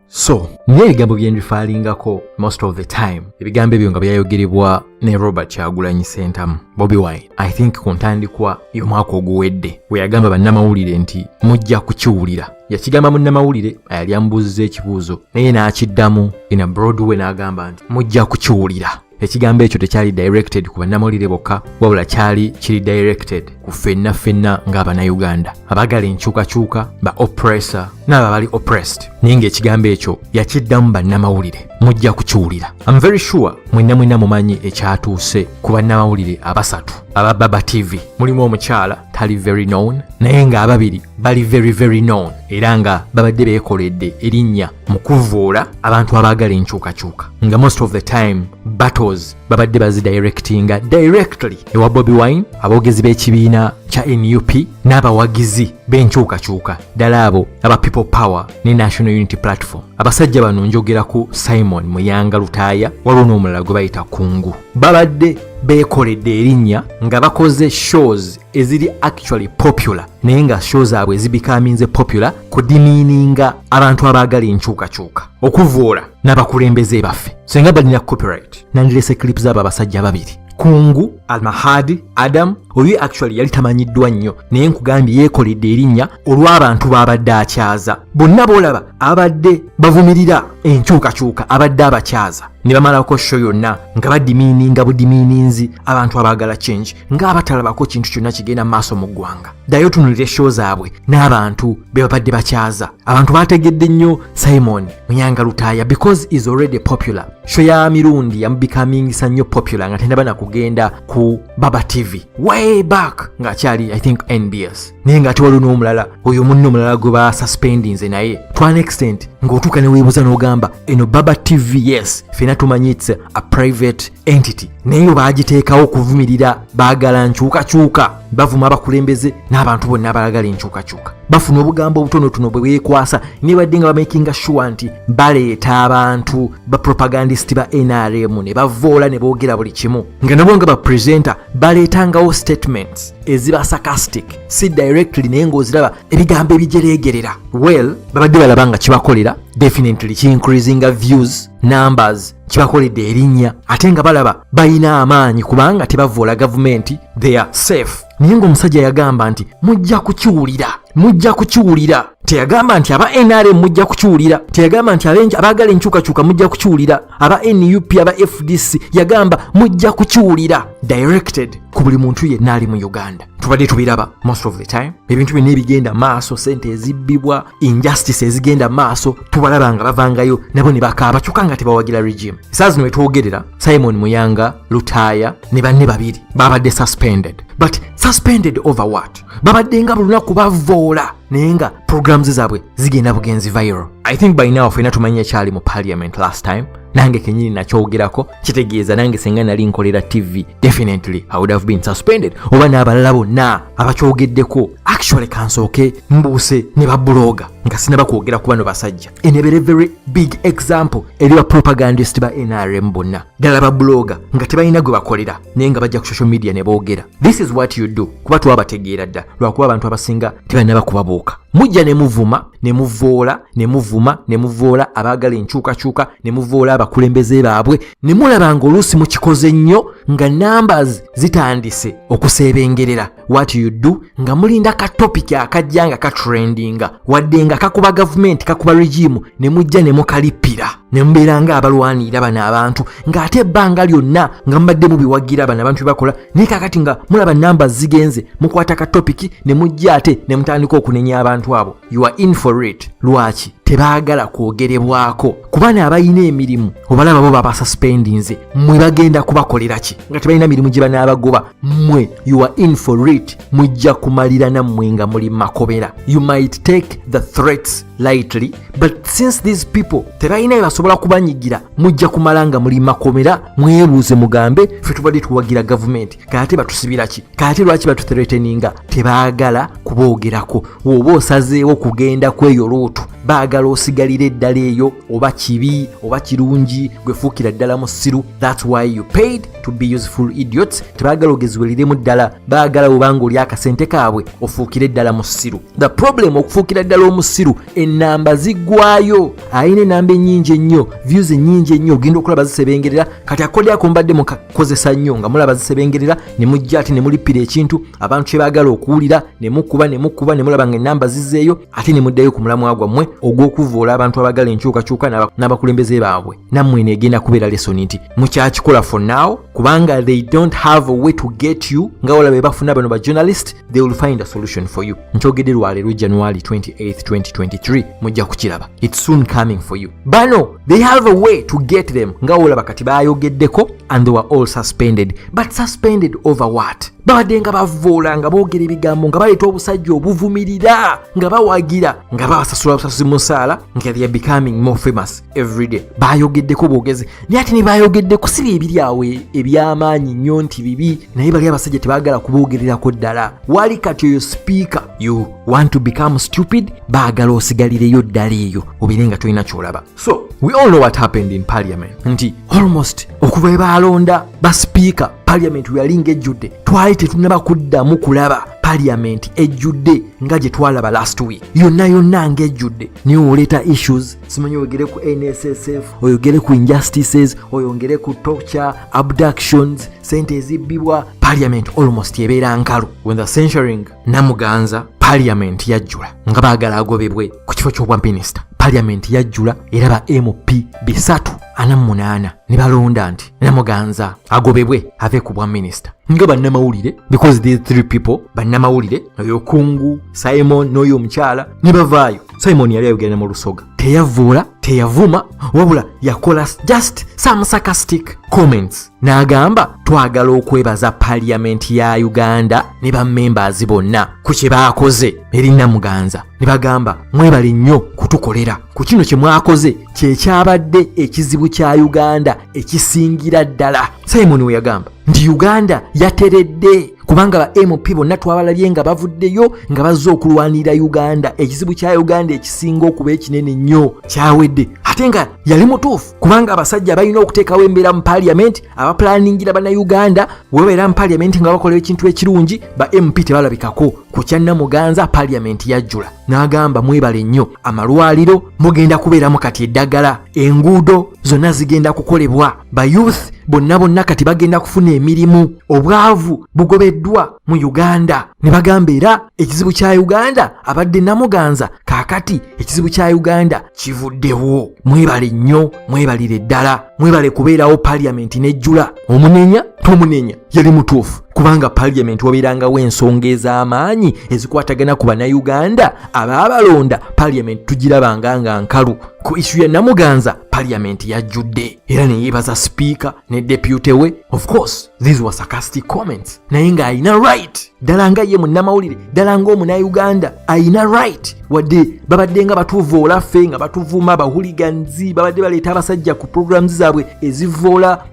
so naye ebigambo byenjifaalingako most of the time ebigambo ebyo nga byayogerebwa ne robert kyagulanyi sentamu bobi wine i think ku ntandikwa y'omwaka oguwedde we yagamba bannamawulire nti mujja kukiwulira yakigamba munnamawulire ayali amubuuziza ekibuuzo naye n'akiddamu in a broadway n'agamba nti mujja kukiwulira ekigambo ekyo tekyali directed ku bannamawulire bokka wabula kyali kiri directed ku ffenna ffenna ng'abanauganda abagala enkyukakyuka ba oppressor n'abo abali oppressed naye ng'ekigambo ekyo yakiddamu bannamawulire mujja kukiwulira am very sure mwenna mwenna mumanyi ekyatuuse ku bannamawulire abasatu aba baba tv mulimu omukyala tali very known naye ng'ababiri bali very very known era nga babadde beekoledde erinnya mu kuvvoola abantu abaagala enkyukakyuka nga most of the time battles babadde bazidirectinga directly ewa bobi wine aboogezi b'ekibiina kya nup n'abawagizi b'enkyukakyuka ddala abo aba people power ne national unity platform abasajja bano njogera ku simon muyanga lutaaya waliwo n'omulala gwe bayita kungu babadde beekoledde erinnya nga bakoze shows eziri actually popular naye nga show zaabwe zibikaminze popular kudimiininga abantu abaagala enkyukakyuka okuvoola n'abakulembeze baffe senga balina copyright nandilese clip zaabo abasajja babiri kungu almahadi adamu oyo actually yali tamanyiddwa nnyo naye nkugambye yeekoledde erinnya olw'abantu baabadde akyaza bonna boolaba abadde bavumirira enkyukakyuka abadde abakyaza ne bamalako sho yonna nga badimiininga budimiininzi abantu abaagala change ng'abatalabako kintu kyonna kigenda mu maaso mu ggwanga ddayo otunulira eshow zaabwe n'abantu be babadde bakyaza abantu baategedde nnyo simon munyanga lutaaya because is already popular sho ya mirundi yamubikaamingisa nnyo popular nga tenaba na kugenda ku baba tv way back ng'akyali i think nbs naye ng'ate waliwo n'omulala oyo munne omulala gwe basuspendinze naye to an extent ng'otuuka neweebuza n'ogamba eno baba tv yes fena tumanyi its a private entity naye obaagiteekawo okuvumirira baagala nkyukakyuka bavuma abakulembeze n'abantu bonna abalagala enkyukakyuka bafuna obugambo obutonotono bwe beekwasa nebadde nga bamakinga shuwa nti baleeta abantu bapropagandisiti ba nrm ne bavoola ne boogera buli kimu nga nabo nga bapresenta baleetangawo statements eziba sarcastic si directly naye ng'oziraba ebigambo ebijereegerera well babadde balaba nga kibakolera definitely ki increasinga views numbers kibakoledde erinnya ate nga balaba balina amaanyi kubanga tebavvoola gavumenti they are safe naye ng'omusajja yagamba nti mujja kukiwulira mujja kukiwulira teyagamba nti aba nrm mujja kukiwulira teyagamba nti abaagala enkyukakyuka mujja kukiwulira aba nup aba fdc yagamba mujja kukiwulira directed ku buli muntu yenna ali mu uganda tubadde tubiraba most of the time ebintu byonna ebigenda maaso sente ezibbibwa injustice ezigenda maaso tubalaba nga bavangayo nabo ne bakaaba kyokka nga tebawagira regime saa zino wetwogerera simon muyanga lutaaya ne banne babiri babadde suspended but suspended over what babadde nga bulunaku bavoola naye nga programs zaabwe zigenda bugenzi viral i think by now fena tumanyi ekyali mu parliament last time nange kenyini nakyogerako kitegeeza nange senga nali nkolera tv definitely i would have been suspended oba n'abalala bonna abakyogeddeko actually kansooke mbuuse ne babuloga nga sinaba kwogera ku bano basajja enebere very big example eri ba propagandist ba nrm bonna ddala babuloga nga tebalina gwe bakolera naye nga bajja ku social media ne boogera this is what you do kuba twabategeera dda lwakuba abantu abasinga tebalina bakubabuuka mujja ne muvuma ne muvoola ne muvuma ne muvoola abaagala enkyukakyuka ne muvoola abakulembeze baabwe ne mulaba ng'oluusi mukikoze nnyo nga numbers zitandise okuseebengerera wat you do nga mulinda ka topic akajja nga katrendinga wadde nga kakuba gavumenti kakuba regimu ne mujja ne mukalippira ne mubeera ng'abalwanirira bano abantu ng'ate ebbanga lyonna nga mubadde mubiwagira bano abantu bebakola naye kakati nga mulaba namba zigenze mukwata ka topiki ne mujja ate ne mutandika okunenya abantu abo you are in for it lwaki tebaagala kwogerebwako kuba naabalina emirimu obalaba bo babasuspendinze mwe bagenda kubakolera ki nga tebalina mirimu gye banaabagoba mwe you are in for it mujja kumalira nammwe nga muli makobera you might take the threats lightly but since these people tebalina bebasobola kubanyigira mujja kumala nga muli makomera mwebuuze mugambe fe tubadde tuwagira gavumenti kaate batusibiraki kaate lwaki batuthreteninga tebaagala kuboogerako woba osazeewo kugenda kweyo luutu baagala osigalira eddala eyo oba kibi oba kirungi gwefuukira ddala musiru thats why you paid to be useful idiots tebaagala ogezibweliremu ddala baagala wubanga oli akasente kaabwe ofuukire ddala musiru the problem okufuukira ddala omusiru enamba ziggwayo ayina enamba enyingi ennyo views enyingi ennyo ogenda okulaba zisebengerera kati akodi ako mbadde mukakozesa nnyo nga mulaba zisebengerera ne mujja ate ne mulippira ekintu abantu kye baagala okuwulira ne mukuba ne mukuba ne mulaba nga enamba zizeeyo ate ne muddayo ku mulamwa gwammwe ogw'okuvvoola abantu abagala enkyukakyuka n'abakulembeze baabwe nammwe neegenda kubeera lesoni nti mukyakikola for now kubanga they don't have a way to get you nga wala be bafuna bano ba journalist they will find a solution for you nkyogedde lwaleero january 28 2023 mujja kukiraba its soon coming for you bano they have a way to get them nga wolaba kati bayogeddeko and they were all suspended but suspended over what babadde nga bavoola nga boogera ebigambo nga baleeta obusajja obuvumirira nga bawagira nga babasasula busasuzi musaala nga they are becoming more famous every day bayogeddeko bwogezi naye ate nebayogedde kusibya ebiri awo ebyamaanyi nnyo nti bibi naye bali abasajja tebagala kuboogererako ddala wali kati oyo sipiika you want to become stupid baagala osigalireyo ddala eyo obeere nga tolina kyolaba so we all know what happened in parliament nti almost okuva ebaalonda basipiika parliament weyalinga ejjudde twali tetunaba kuddamu kulaba parliament ejjudde nga gye twalaba last week yonna yonna nga ejjudde niwe oleeta issues simanyi oyogere ku nssf oyogere ku injustices oyongere ku torture abductions sente ezibbibwa parliament almost ebeera nkalu when the censuring namuganza parliament yajjula nga baagala agobebwe ku kifo ky'obwa minisita parliament yajjula era ba mp bisatu ana munaana ne balonda nti namuganza agobebwe ave ku bwa minisita nga bannamawulire because these three people bannamawulire oyo kungu simon n'oyo omukyala ne bavaayo simoni yali ayogera ne mu lusoga teyavvoola teyavuma wabula yakola just some sarcastic comments n'agamba twagala okwebaza paliyamenti ya uganda ne bamembers bonna ku kye baakoze eri namuganza ne bagamba mwebale nnyo kutukolera ku kino kye mwakoze kyekyabadde ekizibu kya uganda ekisingira ddala simon weyagamba nti uganda yateredde kubanga ba mp bonna twabalabye nga bavuddeyo nga bazze okulwanirira uganda ekizibu kya uganda ekisinga okuba ekinene nnyo kyawedde ate nga yali mutuufu kubanga abasajja balina okuteekawo embeera mu paliamenti abapulaningira bannayuganda webabeera mu paliamenti nga bakola ekintu ekirungi ba mp tebalabikako ku kyanna muganza paliamenti yajjula n'agamba mwebale nnyo amalwaliro mugenda kubeeramu kati eddagala enguudo zonna zigenda kukolebwa ba youth bonna bonna kati bagenda kufuna emirimu obwavu bugobeddwa mu uganda ne bagamba era ekizibu kya uganda abadde namuganza kaakati ekizibu kya uganda kivuddewo mwebale nnyo mwebalire ddala mwebale kubeerawo paliyamenti nejjula omunenya tomunenya yali mutuufu kubanga paliyamenti wabeerangawo ensonga ez'amaanyi ezikwatagana ku bannayuganda abaabalonda paliyamenti tugirabanga nga nkalu ku isu ya namuganza paliyamenti yajjudde era neyeebaza sipiika ne depute we of course these were sarcastic comments naye ng'alina right ddala nga ye munnamawulire ddala ng'omunauganda alina right wadde babadde nga batuvoola ffe nga batuvuma bahuliganzi babadde baleeta abasajja ku programs zaabwe ezivoola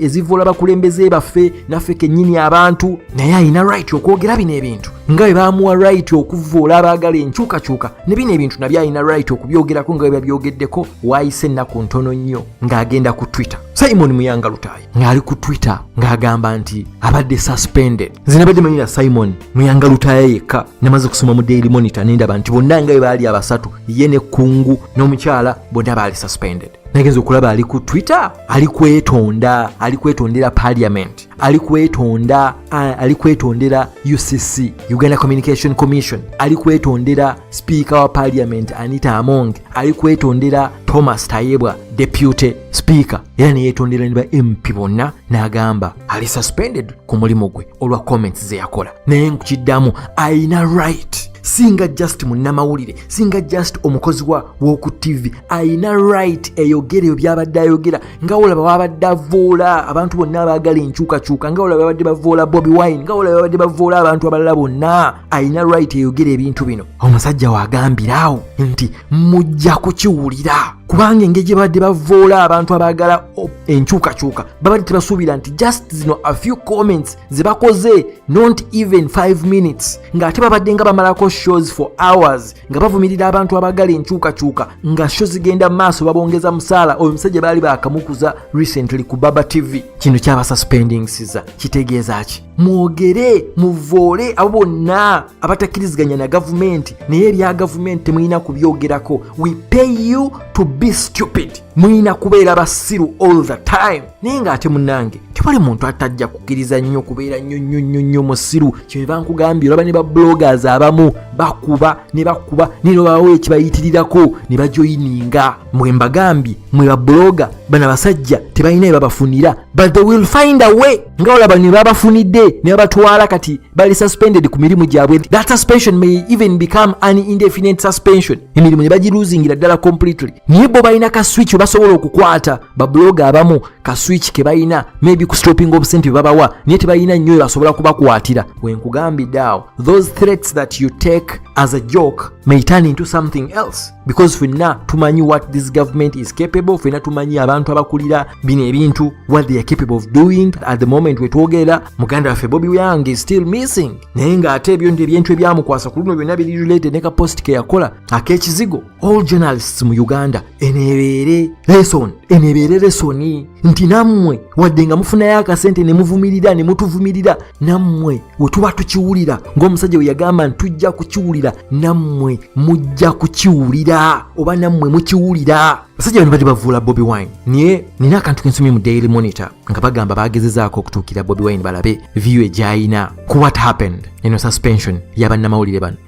ezivoola bakulembeze baffe naffe kennyini abantu naye alina right okwogera bino ebintu nga bwe bamuwa right okuvoola abaagala enkyukakyuka ne bino ebintu nabyo alina right okubyogerako nga bwe babyogeddeko waayise ennaku ntono nnyo ng'agenda ku twitter simon muyanga lutaaya ng'ali ku twitter ng'agamba nti abadde suspended nze nabadde manyira simon muyanga lutaya yekka namaze okusoma mu daily monitor nendaba nti bonna nga bwe baali abasatu ye ne kungu n'omukyala bonna baali suspended nagenza okulaba ali ku twitter ali kwetonda ali kwetondera parliament ali kwetonda ali kwetondera ucc uganda communication commission ali kwetondera speaker wa parliament anita amonge ali kwetondera thomas tayebwa deputy speaker era neyetondera ne ba mp bonna n'agamba ali suspended ku mulimu gwe olwa comments ze yakola naye nkukiddamu alina right singa just munnamawulire singa just omukozi wa woku tv alina right eyogera ebyo byabadde ayogera nga olaba wabadde avoola abantu bonna abaagala enkyukakyuka nga olaba babadde bavoola bobi wine nga olaba babadde bavoola abantu abalala bonna alina right eyogera ebintu bino omusajja wagambira awo nti mujja kukiwulira kubanga engeri gye babadde bavoola abantu abaagala enkyukakyuka babadde tebasuubira nti just zino a few comments ze bakoze not even 5 minutes ng'ate babadde nga bamalako shows for hours nga bavumirira abantu abaagala enkyukakyuka nga sho zigenda mu maaso babongeza musaala oyo omusajja baali baakamukuza recently ku baba tv kino kyabasuspendingsiza kitegeeza ki mwogere muvoole abo bonna abatakkiriziganya na gavumenti naye ebya gavumenti temulina kubyogerako we pay you to be stupid mulina kubeera basiru all the time naye ng'ate munange tewali muntu atajja kukkiriza nnyo kubeera nnyo nnyo nnyo nnyo musiru kyeba nkugambye olaba ne ba bloggers abamu bakuba ne bakuba naye nobawo ekibayitirirako ne bajoyininga mwe mbagambye mwe ba blogger bana basajja tebalina ebabafunira but they will find a way nga olaba ne babafunidde ne babatwala kati bali suspended ku mirimu gyabwe that suspension may even become an indefinite suspension emirimu ne bagiluzingira ddala completely naye bo balina ka switch basobola okukwata babuloga abamu ka switch ke balina maybe ku stopping obusente bwe babawa naye tebalina nnyo basobola kubakwatira wenkugambidde awo those threats that you take as a joke may turn into something else because fenna tumanyi what this government is capable fenna tumanyi abantu abakulira bino ebintu what they are capable of doing at the moment wetwogerera muganda waffe bobi young is still missing naye ng'ate ebyo ndi ebyentu ebyamukwasa ku luno byonna biri related ne ka post ke yakola ak'ekizigo all journalists mu uganda enebeere lesson enebeere lesoni nti nammwe wadde nga mufunayo akasente ne muvumirira ne mutuvumirira nammwe we tuba tukiwulira ng'omusajja we yagamba nti tujja kukiwulira nammwe mujja kukiwulira oba nammwe mukiwulira basajja bano bali bavuula bobi wine naye nina akantu kensomye mu daily monitor nga bagamba bagezezaako okutuukira bobi wine balabe viyu egyayina ku what happened eno suspension yabannamawulire bano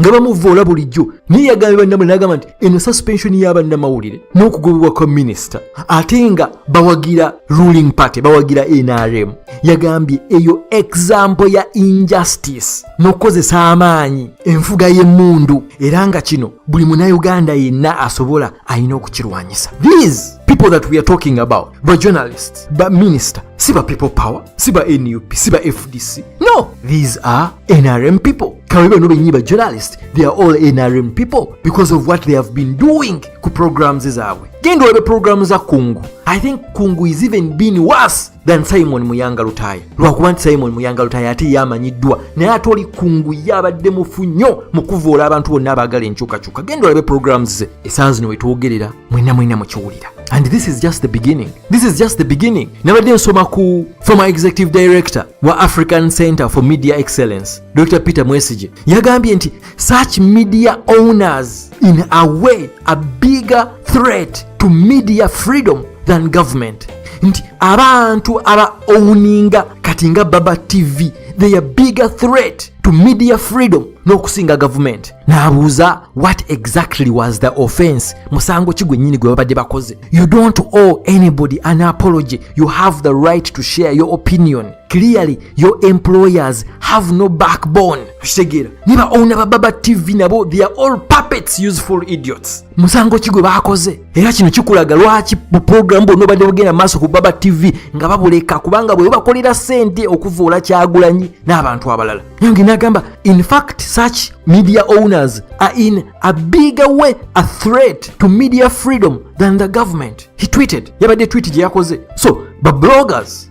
nga bamuvvoola bulijjo naye yagambye bannamawulire nagamba nti eno suspension ya bannamawulire n'okugobebwa kwa minisita ate nga bawagira ruling party bawagira nrm yagambye eyo example ya injustice n'okukozesa amaanyi enfuga y'emmundu era nga kino buli munauganda yenna asobola alina okukirwanyisa these people that we are talking about ba journalists ba minister si ba people power si ba nup si ba fdc no these are NRM people kawebe bano bennyini ba journalist they are all NRM people because of what they have been doing ku programs zaabwe genda olabe programu za kungu i think kungu is even been worse than simon muyanga lutaya lwakuba nti simon muyanga lutaya ate yamanyiddwa naye ate oli kungu ye abadde mufu nnyo mu kuvoola abantu bonna abaagala enkyukakyuka genda olabe programs ze esanzino wetwogerera mwena mwena mukiwulira and this is just the beginning this is just the beginning nabadde nsoma ku former executive director wa african center for media excellence dr peter mwesige yagambye nti such media owners in a way a bigger threat to media freedom than government nti abantu aba owuninga kati nga baba tv they are bigger threat to media freedom n'okusinga gavumenti n'abuuza what exactly was the offense musango ki gwennyini gwe babadde bakoze you don't owe anybody an apology you have the right to share your opinion clearly your employers have no backbone okitegeera ne ba owna ba baba tv nabo they are all puppets useful idiots musango ki gwe baakoze era kino kikulaga lwaki buprogramu bwonna obadde bugenda maaso ku baba tv nga babuleka kubanga bwe bakolera ssente okuvoola kyagulanyi n'abantu abalala nange nagamba in fact such media owners are in a bigger way a threat to media freedom than the government he tweeted yabadde tweet gye yakoze so babloggers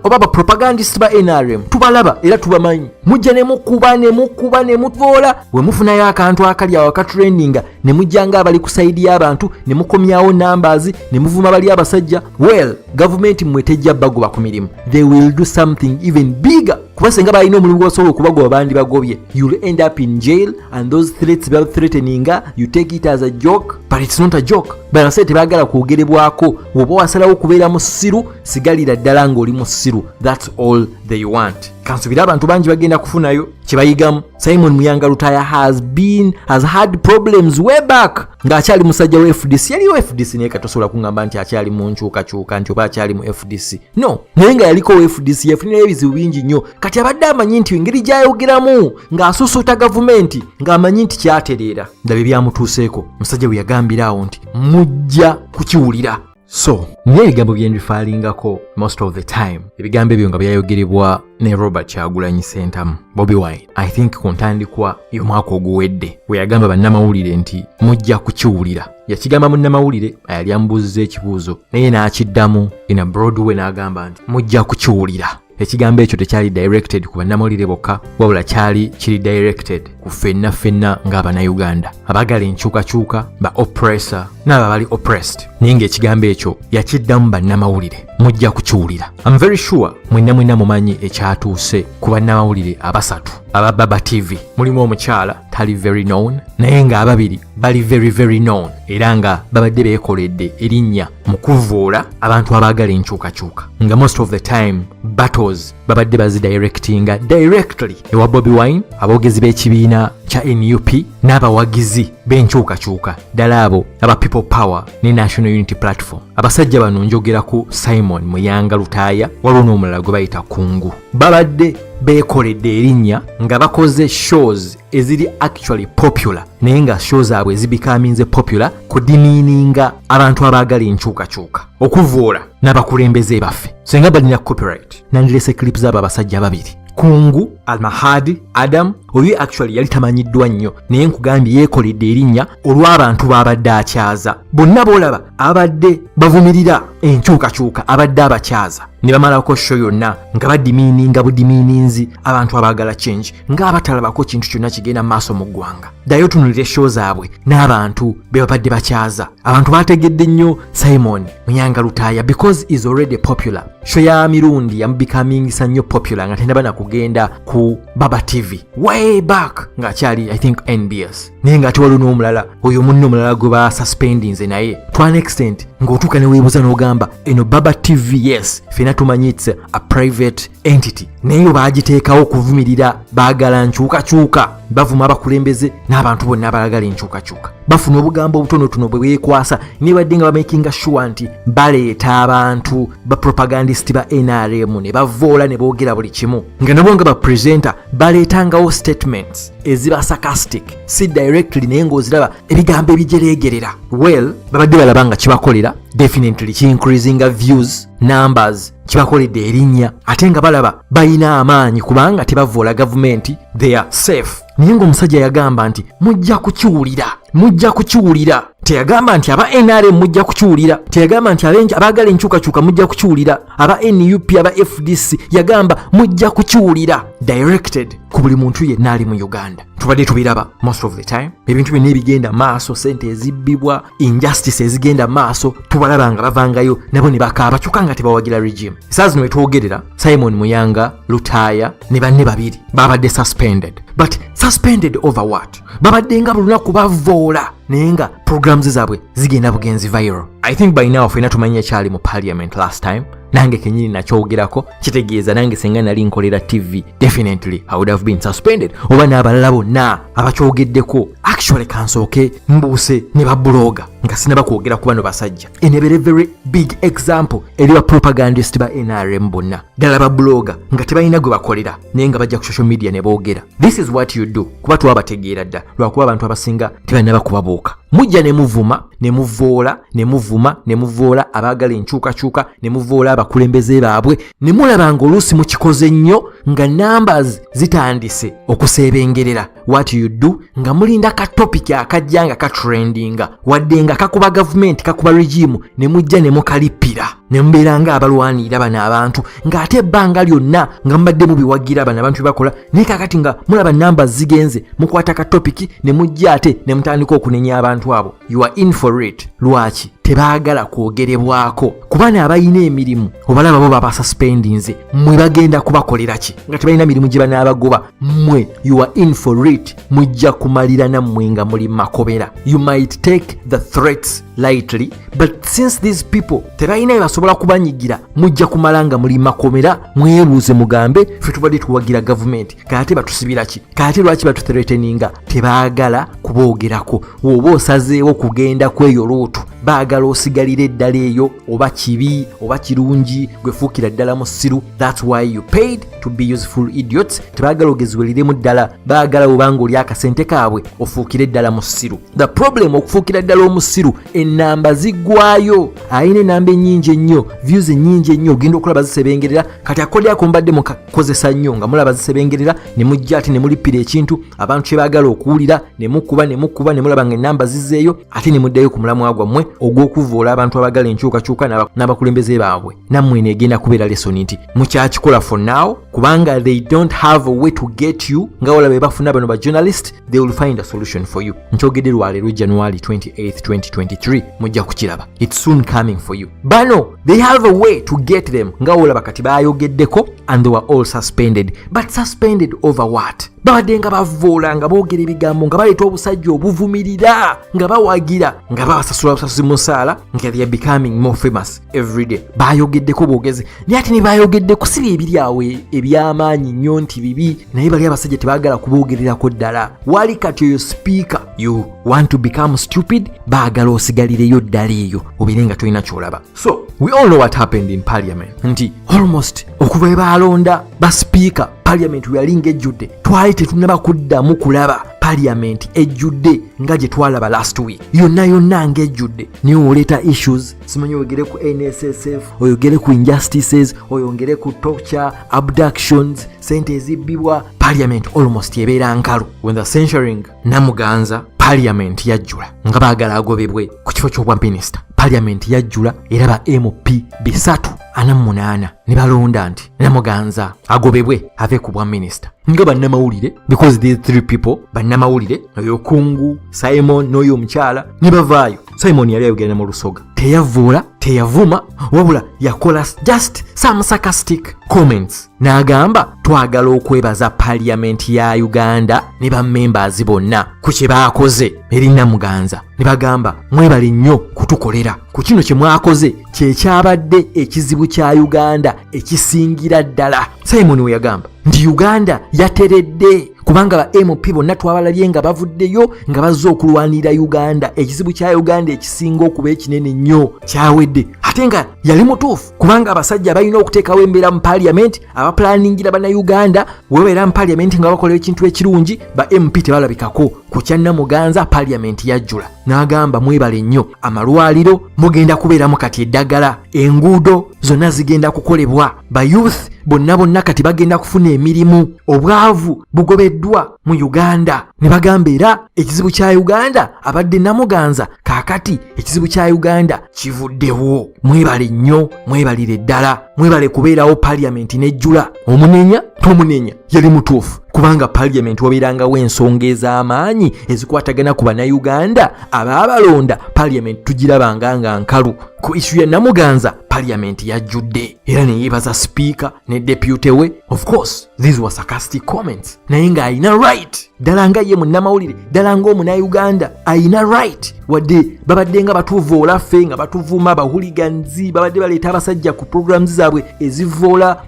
oba bapropagandist ba nrm tubalaba era tubamanyi mujja ne mukuba ne mukuba ne muvoola we mufunayo akantu akali awo akatrendinga ne mujja nga abali ku sayidi y'abantu ne mukomyawo numbers ne muvuma bali abasajja well gavumenti mmwe tejja bagoba ku mirimu they will do something even bigger kuba senga balina omulimu gwebasobola okubagoba bandibagobye you'll end up in jail and those threats baba threateninga you take it as a joke but it's not a joke banasee tebagala kwogerebwako woba wasalawo okubeera musiru sigalira ddala ng'oli musiru thats all they want kansubira abantu bangi bagenda kufunayo kyebayigamu simon muyanga lutaya has been has had problems way back ng'akyali musajja wa fdc yaliwo fdc naye katosobola kuŋamba nti akyali mu nkyukakyuka nti oba akyali mu fdc no naye nga yaliko wa fdc yafunirayo ebizibu bingi nnyo kati abadde amanyi nti engeri gyayogeramu ng'asusuuta gavumenti ng'amanyi nti kyatereera ndaba ebyamutuuseeko musajja bwe yagambira awo nti mujja kukiwulira so n'ebigambo bye mbifaalingako most of the time ebigambo ebyo nga byayogerebwa ne robert kyagulanyi sentamu bobi wine i think ku ntandikwa y'omwaka oguwedde we yagamba bannamawulire nti mujja kukiwulira yakigamba munnamawulire ayali amubuuziza ekibuuzo naye n'akiddamu in a broadway n'agamba nti mujja kukiwulira ekigambo ekyo tekyali directed ku bannamawulire bokka wabula kyali kiri directed ku ffenna ffenna ng'abanauganda abagala enkyukakyuka ba oppressor n'abo abali oppressed naye ng'ekigambo ekyo yakiddamu bannamawulire mujja kukiwulira am very sure mwenna mwenna mumanyi ekyatuuse ku bannamawulire abasatu aba baba tv mulimu omukyala tali very known naye ng'ababiri bali very very known era nga babadde beekoledde erinnya mu kuvvoola abantu abaagala enkyukakyuka nga most of the time battles babadde bazidirectinga directly ewa bobi wine aboogezi b'ekibiina kya nup n'abawagizi b'enkyukakyuka ddala abo aba people power ne national unity platform abasajja bano njogera ku simon muyanga lutaaya waliwo n'omulala gwe bayita kungu babadde beekoledde erinnya nga bakoze shows eziri actually popular naye nga show zaabwe zibikaminze popular kudimiininga abantu abaagala enkyukakyuka okuvoola n'abakulembeze baffe senga balina copyright nandilese clip zaabo abasajja babiri kungu almahadi adam oyo actually yali tamanyiddwa nnyo naye nkugambye yeekoledde erinnya olw'abantu baabadde akyaza bonna boolaba abadde bavumirira enkyukakyuka abadde abakyaza ne bamalako sho yonna nga badimiininga budimiininzi abantu abaagala change ng'abatalabako kintu kyonna kigenda maaso mu ggwanga ddayo tunulire show zaabwe n'abantu be babadde bakyaza abantu baategedde nnyo simon muyanga lutaaya because is already popular show ya mirundi yamubikamingisa nnyo popular nga tendaba na kugenda ku baba tv way back ng'akyali i think nbs naye nga ate waliwo n'omulala oyo munne omulala gwe basuspendinze naye to an extent ng'otuuka ne weebuza n'ogamba eno baba tv yes fena tumanyi its a private entity naye baagiteekawo okuvumirira baagala nkyukakyuka bavuma abakulembeze n'abantu bonna abalagala enkyukakyuka bafuna obugambo obutonotono bwe bwekwasa nebadde nga bamakinga shuwa nti baleeta abantu bapropagandisiti ba nrm ne bavoola ne boogera buli kimu nga nabo nga bapresenta baleetangawo statements eziba sarcastic si directly naye ng'oziraba ebigambo ebijereegerera well babadde balaba nga kibakolera definitely kiincreasinga views numbers kibakoledde erinnya ate nga balaba balina amaanyi kubanga tebavvoola gavumenti they are safe naye ng'omusajja yagamba nti mujja kukiwulira mujja kukiwulira teyagamba nti aba nrm mujja kukiwulira teyagamba nti abaagala enkyukakyuka mujja kukiwulira aba nup aba fdc yagamba mujja kukiwulira directed ku buli muntu yenna ali mu uganda tubadde tubiraba most of the time ebintu byonna ebigenda maaso sente ezibbibwa injustice ezigenda maaso tubalaba nga bavangayo nabo ne bakaaba kyokka nga tebawagira regime esaa zino wetwogerera simon muyanga lutaaya ne banne babiri babadde suspended but suspended over what babadde nga bulunaku bavoola naye nga programs zaabwe zigenda bugenzi viral i think by now fena tumanya kyali mu parliament last time nange kenyini nakyogerako kitegeeza nange senga nali nkolera tv definitely i would have been suspended oba n'abalala bonna abakyogeddeko actually kansooke mbuuse ne babuloga nga sinaba kwogera ku bano basajja enebere very big example eri ba propagandist ba nrm bonna ddala babuloga nga tebalina gwe bakolera naye nga bajja ku social media ne boogera this is what you do kuba twabategeera dda lwakuba abantu abasinga tebalina bakubabuuka mujja ne muvuma ne muvoola ne muvuma ne muvoola abaagala enkyukakyuka ne muvoola abakulembeze baabwe ne mulaba ng'oluusi mukikoze nnyo nga numbers zitandise okuseebengerera what you do nga mulinda ka topic akajja nga katrendinga wadde nga kakuba gavumenti kakuba regimu ne mujja ne mukalippira ne mubeera nga abalwanirira bano abantu ng'ate ebbanga lyonna nga mubadde mubiwagira bano abantu bebakola naye kakati nga mulaba numbers zigenze mukwata ka topic ne mujja ate ne mutandika okunenya abantu abo you are in for it lwaki tebaagala kwogerebwako kuba ne abalina emirimu obalaba bo baba suspendinze mwe bagenda kubakolera ki nga tebalina mirimu gye banaabagoba mwe you are in for it mujja kumalira nammwe nga muli makobera you might take the threats lightly but since these people tebalina bye basobola kubanyigira mujja kumala nga muli makomera mwebuuze mugambe ffe tubadde tuwagira gavumenti kaate batusibira ki kaate lwaki batuthreteninga tebaagala kuboogerako woba osazeewo kugenda kweyo luutu baagala osigalira eddala eyo oba kibi oba kirungi gwefuukira ddala musiru thats why you paid to be useful idiots tebaagala ogeziweliremu ddala baagala obanga oli akasente kaabwe ofuukire ddala musiru the problem okufuukira ddala omusiru enamba ziggwayo alina enamba enyingi ennyo views enyingi ennyo ogenda okulaba zisebengerera kati akodi ako mbadde mukakozesa nnyo nga mulaba zisebengerera ne mujja ate ne mulippira ekintu abantu kye baagala okuwulira ne mukuba ne mukuba ne mulaba nga enamba zizeeyo ate ne muddayo ku mulamwa gwammwe ogw'okuvvoola abantu abagala enkyukakyuka n'abakulembeze baabwe nammwe eno egenda kubeera lesoni nti mukyakikola for now kubanga they don't have a way to get you nga wala be bafuna bano ba journalist they will find a solution for you nkyogedde lwaleero january 28 2023 mujja kukiraba its soon coming for you bano they have a way to get them nga olaba kati bayogeddeko and they were all suspended but suspended over what babadde nga bavoola nga boogera ebigambo nga baleeta obusajja obuvumirira nga bawagira nga babasasula busasuzi musaala nga they are becoming more famous everyday bayogeddeko bwogezi naye ate nebayogedde kusiba ebiri awo e, ebyamaanyi nnyo nti bibi naye bali abasajja tebagala kuboogererako ddala wali kati oyo sipiika you want to become stupid baagala osigalireyo ddala eyo obeere nga tolina kyolaba so we all know what happened in parliament nti almost okuva ebaalonda basipiika parliament weyali ngaejjudde twali tetunaba kuddamu kulaba parliament ejjudde nga gye twalaba last week yonna yonna ngaejjudde naye oleeta issues simanyi oyogere ku nssf oyogere ku injustices oyongere ku torture abductions sente ezibbibwa parliament almost ebeera nkalu when the censuring namuganza parliament yajjula nga baagala agobebwe ku kifo ky'obwa minisita parliament yajjula era ba mp bisatu ana munaana ne balonda nti namuganza agobebwe ave ku bwa minisita nga bannamawulire because these three people bannamawulire oyo kungu simon n'oyo omukyala ne bavaayo simoni yali ayogera ne mu lusoga teyavvoola teyavuma wabula yakola just some sarcastic comments n'agamba twagala okwebaza paliyamenti ya uganda ne bamembers bonna ku kye baakoze eri namuganza ne bagamba mwebale nnyo kutukolera ku kino kye mwakoze kyekyabadde ekizibu kya uganda ekisingira ddala simoni we yagamba nti uganda yateredde kubanga ba mp bonna twabalabye nga bavuddeyo nga bazze okulwanirira uganda ekizibu kya uganda ekisinga okuba ekinene nnyo kyawedde ate nga yali mutuufu kubanga abasajja balina okuteekawo embeera mu paliamenti abapulaningira bannayuganda webabeera mu paliamenti nga bakola ekintu ekirungi ba mp tebalabikako ku kyannamuganza paliamenti yajjula n'agamba mwebale nnyo amalwaliro mugenda kubeeramu kati eddagala enguudo zonna zigenda kukolebwa bayouth bonna bonna kati bagenda kufuna emirimu obwavu bugobeddwa mu uganda ne bagamba era ekizibu kya uganda abadde namuganza kaakati ekizibu kya uganda kivuddewo mwebale nnyo mwebalire ddala mwebale kubeerawo paliyamenti nejjula omunenya tomunenya yali mutuufu kubanga paliyamenti wabeerangawo ensonga ez'amaanyi ezikwatagana ku bannayuganda abaabalonda paliyamenti tugirabanga nga nkalu ku isu ya namuganza parliament yajjudde era neyebaza sipiika ne depute we of course these were sarcastic comments naye ng'alina right ddala nga ye munnamawulire ddala ngaomunauganda alina right wadde babadde nga batuvoola ffe nga batuvuma bahuliganzi babadde baleeta abasajja ku programs zaabwe ezivoola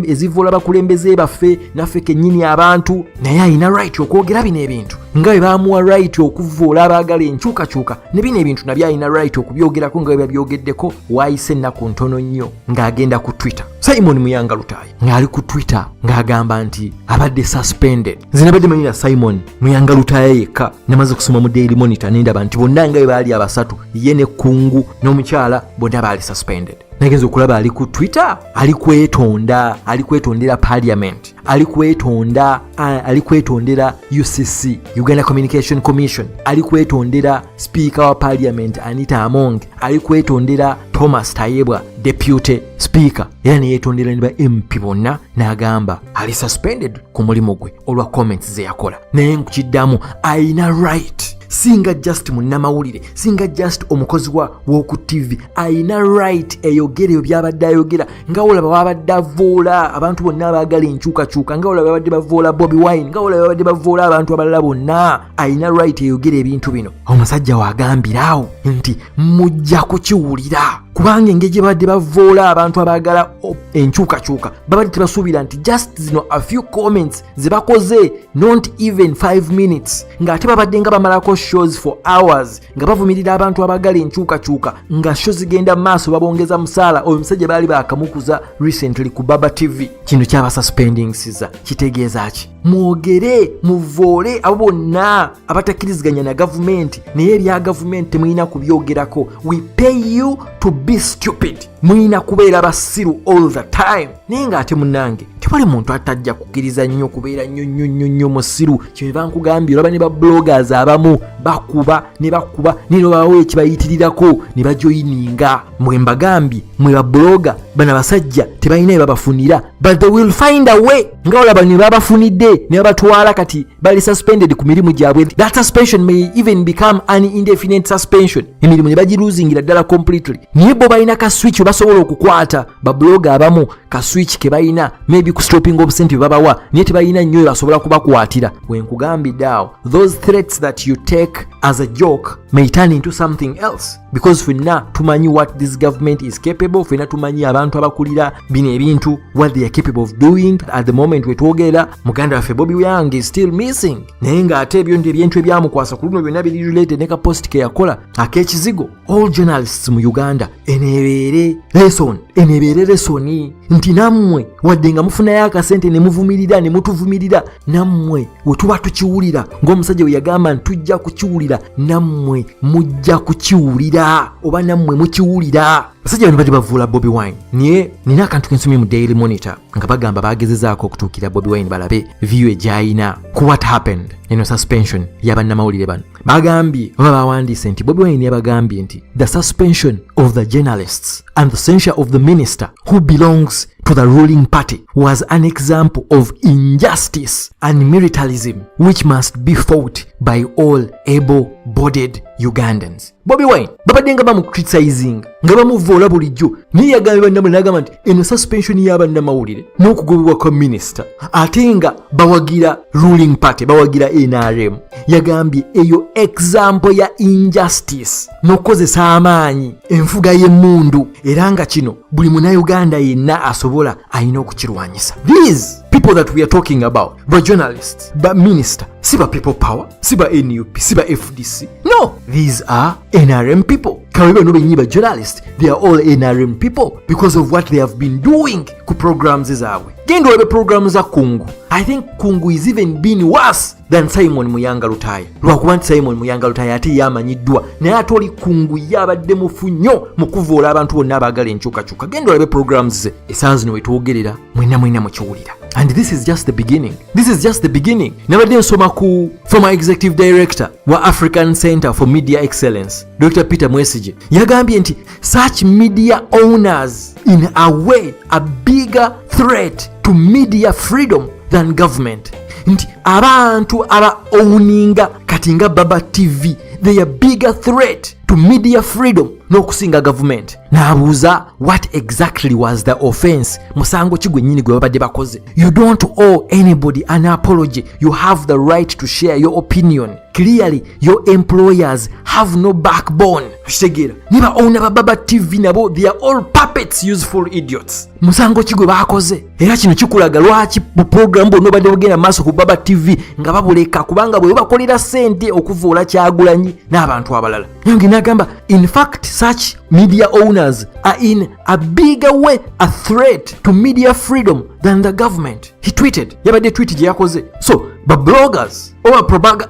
ezivoola bakulembeze baffe naffe kennyini abantu naye alina right okwogera bino ebintu nga bwe baamuwa right okuvvoola abaagala enkyukakyuka ne bino ebintu nabyo alina right okubyogerako nga bwe babyogeddeko waayise ennaku ntono nnyo ng'agenda ku twitter simon muyanga lutaayi ng'ali ku twitter ng'agamba nti abadde suspended nze nabadde manyira simon muyanga lutaaya yekka namaze kusoma mu daily monitor nendaba nti bonna nga bwe baali abasatu ye ne kungu n'omukyala bonna baali suspended nagenza okulaba ali ku twitter ali kwetonda ali kwetondera parliament ali kwetonda ali kwetondera UCC Uganda Communication Commission ali kwetondera speaker wa parliament Anita Among ali kwetondera Thomas Tayebwa deputy speaker era neyetondera ne ba MP bonna n'agamba ali suspended ku mulimu gwe olwa comments ze yakola naye nkukiddamu alina right singa just munnamawulire singa just omukozi wa woku tv alina right eyogereyo byabadde ayogera nga olaba wabadde avoola abantu bonna abaagala enkyukakyuka nga olaba babadde bavoola bobi wine nga olaba babadde bavoola abantu abalala bonna alina right eyogera ebintu bino omusajja waagambiraawo nti mujja kukiwulira kubanga engeri gye babadde bavoola abantu abaagala enkyukakyuka babadde tebasuubira nti just zino a few comments ze bakoze not even 5 minutes ng'ate babadde nga bamalako shows for hours nga bavumirira abantu abagala enkyukakyuka nga sho zigenda mu maaso babongeza musaala oyo omusajja baali bakamukuza recently ku baba tv kino kyabasuspendingsiza kitegeeza ki mwogere muvoole abo bonna abatakkiriziganya na gavumenti naye ebya gavumenti temulina kubyogerako we pay you to be stupid mulina kubeera basiru all the time naye ng'ate munange tewali muntu atajja kukkiriza nnyo kubeera nnyo nnyo nnyo nnyo musiru kyeva nkugambye olaba ne bablogers abamu bakuba ne bakuba naye nobawo ekibayitirirako ne bajoyininga mwe mbagambye mwe babloga bana basajja tebalina bye babafunira but they will find a way nga olaba ne babafunidde ne babatwala kati bali suspended ku mirimu gyabwe that suspension may even become an indefinite suspension emirimu ne bagiruzingira ddala completely naye bo balina ka switch webasobola okukwata babuloga abamu ka switch ke balina maybe ku stopping obusente bebabawa naye tebalina nnyo webasobola kubakwatira wenkugambidde awo those threats that you take as a joke may turn into something else because fenna tumanyi what this government is capable fenna tumanyi abantu abakulira bino ebintu what they are capable of doing at the moment wetwogera muganda waffe bobi wyange is still missing naye ng'ate ebyo nti ebintu ebyamukwasa ku luno byonna biri related ne ka post ke yakola ak'ekizigo all journalists mu uganda eneebeere lesson eneebeere lesoni nti nammwe wadde nga mufunayo akasente ne muvumirira ne mutuvumirira nammwe we tuba tukiwulira ng'omusajja we yagamba nti tujja kukiwulira nammwe mujja kukiwulira oba nammwe mukiwulira Basajja bano bali bavuula Bobi Wine naye nina akantu kensomye mu Daily Monitor nga bagamba bagezezaako okutuukira Bobi Wine balabe viyu egyayina ku what happened eno suspension ya bannamawulire bano bagambye oba bawandiise nti Bobi Wine yabagambye nti the suspension of the journalists and the censure of the minister who belongs to the ruling party was an example of injustice and militarism which must be fought by all able-bodied Ugandans. bobi wine babadde nga bamucriticizing nga bamuvoola bulijjo naye yagambye bannamawulire nagamba nti eno suspension ya bannamawulire n'okugobebwa kwa minisita ate nga bawagira ruling party bawagira nrm yagambye eyo example ya injustice n'okukozesa amaanyi enfuga y'emmundu era nga kino buli munauganda yenna asobola alina okukirwanyisa these people that we are talking about ba journalists ba minister si ba people power si ba nup si ba fdc no these are nrm people kawe bano benyi ba journalist they are all nrm people because of what they have been doing ku programs zaabwe genda olebe programu za kungu i think kungu is even been worse than simon muyanga lutaya lwakuba nti simon muyanga lutaya ate yamanyiddwa naye ate oli kungu yabadde mufu nnyo mu kuvoola abantu bonna abaagala enkyukakyuka genda olebe programu ze esaawa zino wetwogerera mwena mwena mukiwulira and this is just the beginning this is just the beginning nabadde nsoma ku former executive director wa african center for media excellence dr peter mwesige yagambye nti such media owners in a way a bigger threat to media freedom than government nti abantu aba owuninga kati nga baba tv they are bigger threat to media freedom n'okusinga gavumenti n'abuuza what exactly was the offense musango ki gwennyini gwe babadde bakoze you don't owe anybody an apology you have the right to share your opinion clearly your employers have no backbone kitegeera ne baowna bababa tv nabo they are all puppets useful idiots musango ki gwe baakoze era kino kikulaga lwaki bupulogulamu bwonna obadde bugenda maaso ku baba tv nga babuleka kubanga bwe bakolera sente okuvuula kyagulanyi n'abantu abalala nange nagamba in fact such media owners are in a bigger way a threat to media freedom than the government he tweeted yabadde tweet gye yakoze so babloggers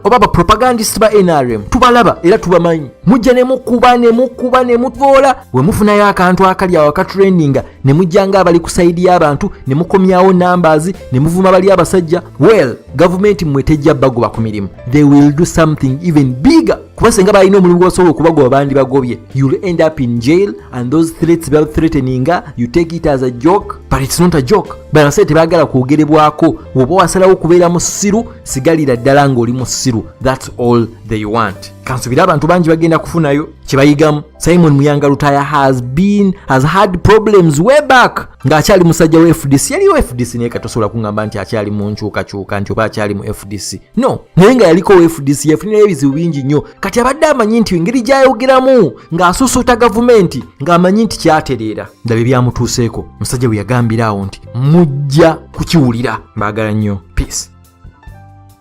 oba bapropagandist ba nrm tubalaba era tubamanyi mujja nemukuba nemukuba nemutoola wemufunayo akantu akali awo akatrendinga ne mujja ng'abali ku sayidi y'abantu ne mukomyawo numbers ne muvuma bali abasajja well gavumenti mmwe tejja bagoba ku mirimu they will do something even bigger kuba senga balina omulimu gwasobola okubagoba bandi bagobye you'll end up in jail and those threats bal threateninga you take it as a joke but it's not a joke banasente tebagala kwogerebwako woba wasalawo okubeera musiru sigalira ddala ng'oli musiru that's all they want kansubira abantu bangi bagenda kufunayo kyebayigamu Simon Muyanga Lutaya has been has had problems way back nga akyali musajja wa FDC yaliyo FDC naye katosobola kungamba nti akyali mu nkyukakyuka nti oba akyali mu FDC no naye nga yaliko wa FDC yafunirayo ebizibu bingi nnyo kati abadde amanyi nti engeri gyayogeramu ng'asusuuta gavumenti ng'amanyi nti kyatereera ndaba ebyamutuuseeko musajja bwe yagambira awo nti mujja kukiwulira mbaagala nnyo peace